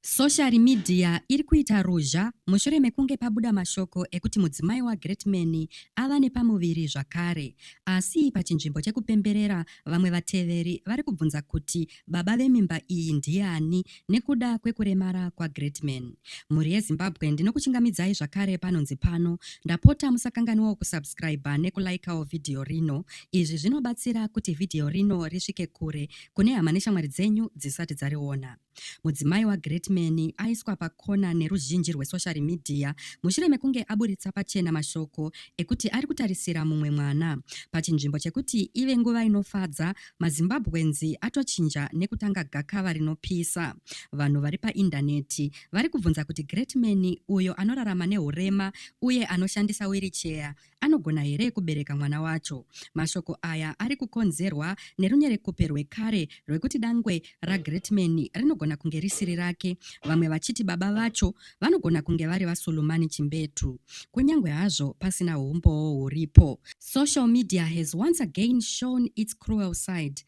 Soshari midhiya iri kuita ruzha mushure mekunge pabuda mashoko ekuti mudzimai waGreatman ava nepamuviri zvakare. Asi pachinzvimbo chekupemberera, vamwe vateveri vari kubvunza kuti baba vemimba iyi ndiani nekuda kwekuremara kwaGreatman. Mhuri yeZimbabwe ndinokuchingamidzai zvakare panonzi pano. Ndapota musakanganwawo kusubscriber nekulaikawo vhidhiyo rino. Izvi zvinobatsira kuti vhidhiyo rino risvike kure kune hama neshamwari dzenyu dzisati dzariona. Mudzimai waGreatman aiswa pakona neruzhinji rwesoshari midhiya mushure mekunge aburitsa pachena mashoko ekuti ari kutarisira mumwe mwana. Pachinzvimbo chekuti ive nguva inofadza, maZimbabweans atochinja nekutanga gakava rinopisa. Vanhu vari paindaneti vari kubvunza kuti Greatman, uyo anorarama nehurema uye anoshandisa wiricheya, Anogona here kubereka mwana wacho? Mashoko aya ari kukonzerwa nerunyerekupe rwekare rwekuti dangwe raGreatman rinogona kunge risiri rake, vamwe vachiti baba vacho vanogona kunge vari vaSulumani Chimbetu, kunyange hazvo pasina humbowo huripo. Social media has once again shown its cruel side.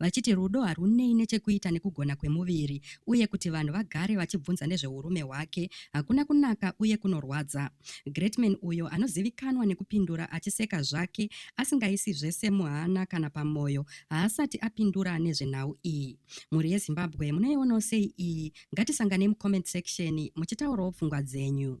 vachiti rudo harwunei nechekuita nekugona kwemuviri uye kuti vanhu vagare vachibvunza nezveurume hwake hakuna kunaka uye kunorwadza. Greatman uyo anozivikanwa nekupindura achiseka zvake asingaisi zvese muhana kana pamoyo haasati apindura nezvenhau iyi. Mhuri yeZimbabwe munoionawo sei iyi? Ngatisanganei mucomment section muchitaurawo pfungwa dzenyu.